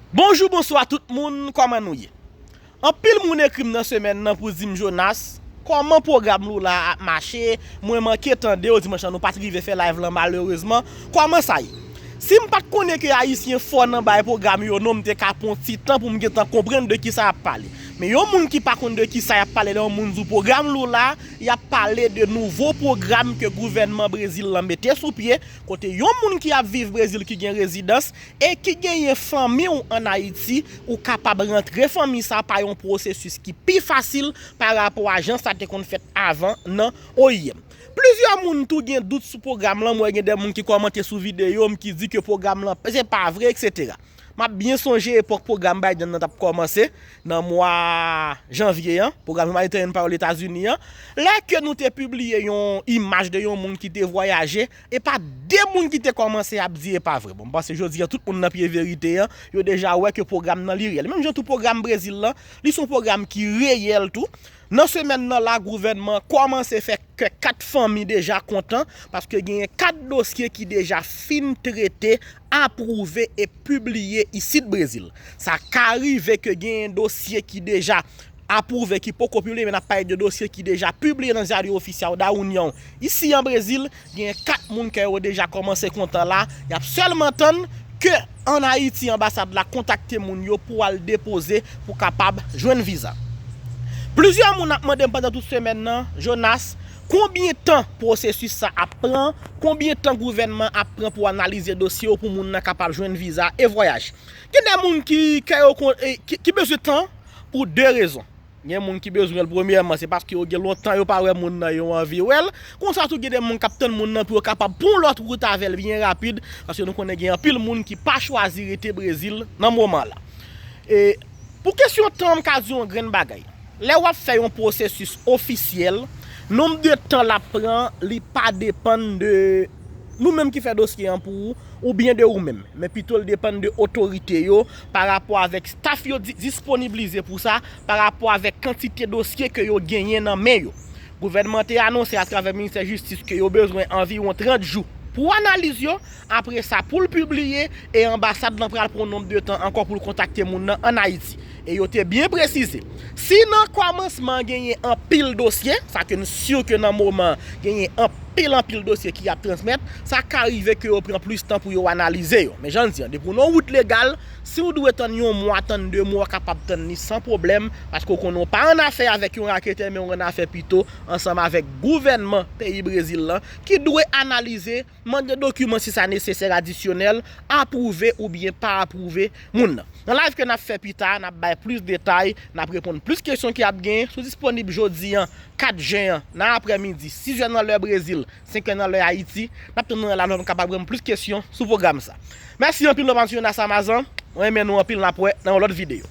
Bonjou bonswa tout moun kòman nou ye anpil moun ekrim nan semèn nan pou dim Jonas kòman pwogram Lula ap mache mwen manke tandew dimanch lan nou pat rive fè live lan malerezman kòman sa ye sim pat konnen ke ayisyen fò nan bay pwogram yo non mte ka pwan ti tan poum gentan konprann de kisa yap pale men yon moun ki pa konn de kisa yap pale lè yon moun di w pwogram Lula yap pale de nouvo pwogram ke gouvènman Brezil lan mete sou pye kote yon moun ki ap viv Brezil ki gen rezidans e ki genyen fanmi w an Ayiti, ou kapab rantre fanmi sa pa yon pwosesis ki pi fasil pa rapò a jan sa te konn fèt avan nan oim. Plizyè moun tou gen dout sou pwogram lan, m wè gen de moun ki kòmante sou videyo m ki di ke pwogram lan se pa vre eksetera. M ap byen sonje epòk pwogram Biden nan t ap kòmanse nan mwa janvye an, pwogram Humanitarian Power Etazini an, lè ke nou te pibliye yon imaj de yon moun ki te vwayaje Epa de moun ki te kòmanse ap di epa vre bon m panse jodi an tout moun nan pye verite an yo deja wè ke pwogram nan li reyèl menm jan tou pwogram Brezil lan li son pwogram ki reyèl tou nan semèn nan la gouvènman an kòmanse fè kè 4 fanmi deja kontan paske genyen 4 dosye ki deja fin trete apwouve e pibliye isit Brezil. Sa ka rive ke genyen dosye ki deja apwouve ki poko pibliye men n ap pale de dosye ki deja pibliye nan Diario Oficial da União isi an Brezil, genyen 4 moun kè yo deja kòmanse kontan la, y ap sèlman tann ke an Ayiti anbasad la kontakte moun yo pou al depoze pou kapab jwenn viza. Plizyè moun ap mande m pandan tout semèn nan, Jonas, Konbyen tan pwosesis sa ap pran? Konbyen tan gouvènman ap pran pou analize dosye yo pou moun nan kapab jwenn viza e vwayaj? Gen de moun ki kè yo kon ki bezwen tan pou de rezon. Gen moun ki bezwen l premyèman se paske yo gen lontan yo pa wè moun nan yo anvi wè l. Konsa tou gen de moun k ap tann moun nan pou yo kapab pran lòt wout avè l byen rapid paske nou konnen gen anpil moun ki pa chwazi rete Brezil nan moman la. E. Pou kesyon tan an m ka di w yon grenn bagay. Lè w ap fè yon pwosesis ofisyèl, nonb de tan l ap pran li pa depann de nou menm ki fè dosye an pou ou oubyen de ou menm, men pito l depann de otorite yo pa rapò avèk staf yo disponiblize pou sa, pa rapò avèk kantite dosye ke yo genyen nan men yo. Gouvènman te anonse atravè Ministè Jistis ke yo bezwen anviwon 30 jou pou analiz yo, Apre sa, pou l pibliye, e anbasad lan pral pran yon nonb de tan ankò pou l kontakte moun nan ann Ayiti. E yo te byen presize, si nan kòmansman an genyen anpil dosye, sa ke n sur ke nan moman an, genyen anpil anpil dosye ki ap transmèt, sa ka rive ke yo pran plis tan pou yo analize yo. Men jan n di an, depi w nan yon wout legal, si w dwe tann yon mwa, tann de mwa, w kapab tann li san pwoblèm, paske w konnen w pa ann afè avèk yon raketè, men w ann afè pito ansanm avèk gouvènman peyi Brezil lan, ki dwe analize, Mande dokiman si sa nesesè adisyonèl, apwouve oubyen pa apwouve moun nan. Nan live ke n ap fè pita a, n ap bay plis detay, n ap reponn plis kesyon ki ap genyen sou disponib jodi an 4 jen an nan aprè midi 6 zè nan lè Brezil, 5 zè nan lè Ayiti. N ap tann nou nan la nou an kapab reponn plis kesyon sou pwogram sa. Mèsi anpil nou ap ap swiv nan Samazan. Mwen renmen nou anpil n ap wè nan yon lòt videyo.